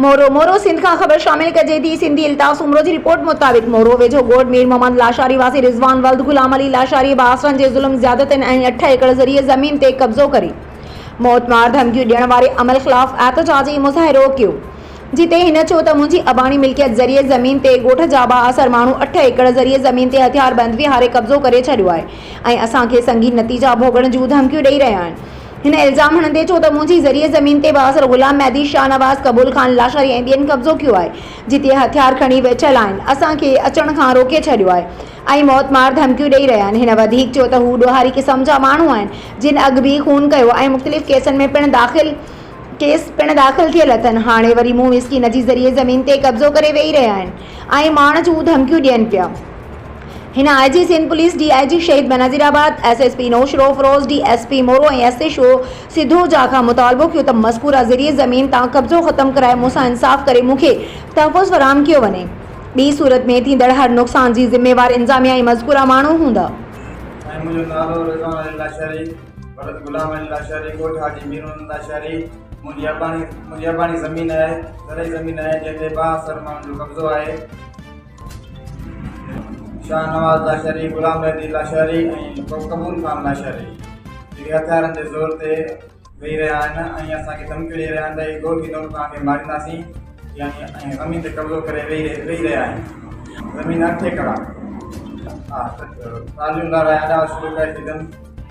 مورو، مورو سنڌ کان خبر شامل ڪجي ٿي، سنڌي التاف سومرو جي رپورٽ مطابق مورو ويجهو ڳوٺ مير محمد لاشاري واسي رضوان ولد غلام علي لاشاري بااثرن جي ظلم زيادتين ۽ اٺ ايڪڙ زرعي زمين تي قبضو ڪري موت مار ڌمڪيون ڏيڻ واري عمل خلاف احتجاجي مظاهرو ڪيو جتي هن چيو ته منهنجي اباڻي ملڪيت زرعي زمين تي ڳوٺ جا بااثر ماڻهو اٺ ايڪڙ زرعي زمين تي هٿياربند ويهاري قبضو ڪري ڇڏيو آهي ۽ اسان کي سنگين نتيجا ڀوڳڻ جون ڌمڪيون ڏئي رهيا آهن هن الزام هڻندي چيو ته منهنجي زرعي زمين تي بااثر غلام مهدي، شاهنواز، قبول خان لاشاري ۽ ٻين قبضو ڪيو آهي، جتي هٿيار کڻي ويٺل آهن، اسان کي اچڻ کان روڪي ڇڏيو آهي ۽ موت مار ڌمڪيون ڏئي رهيا آهن. هن وڌيڪ چيو ته هو ڏوهاري قسم جا ماڻهو آهن، جن اڳ به خون ڪيو ۽ مختلف ڪيسن ۾ پڻ داخل ڪيس پڻ داخل ٿيل اٿن، هاڻي وري مون مسڪين جي زرعي زمين تي قبضو ڪري ويهي رهيا آهن ۽ مارڻ جون ڌمڪيون ڏين پيا. هن I G Sindh police, D I G Shaheed Benazirabad, S S P Naushahro Feroze, D S P Moro ۽ S H O سيڌوجا کان مطالبو ڪيو ته مذڪوره زرعي زمين تان قبضو ختم ڪرائي مون سان انصاف ڪري مون کي تحفظ فراهم ڪيو وڃي ٻي صورت ۾ ٿيندڙ هر نقصان جي ذميوار انظاميه ۽ مذڪوره ماڻهو هوندا. سائين منهنجو نالو رضوان علي لاشاري ولد غلام علي لاشاري ڳوٺ حاجي ميرمحمد لاشاري منهنجي اباڻي منهنجي اباڻي زمين آهي زرعي زمين آهي جنهن تي ٻاهه سر ماڻهن جو قبضو آهي. شاهنواز لاشاري، غلام مهدي لاشاري ۽ قبول خان لاشاري جيڪي هٿيارن جي زور تي ويهي رهيا آهن ۽ اسان کي ڌمڪيون ڏيئي رهيا آهن ته اهي گوڀي نوڪ توهان کي مارينداسين ۽ زمين تي قبضو ڪري ويهي رهيا آهن زمين اٺ ايڪڙ آهي ٽالهيون لارائي اڏاوت شروع ڪري ڇڏيم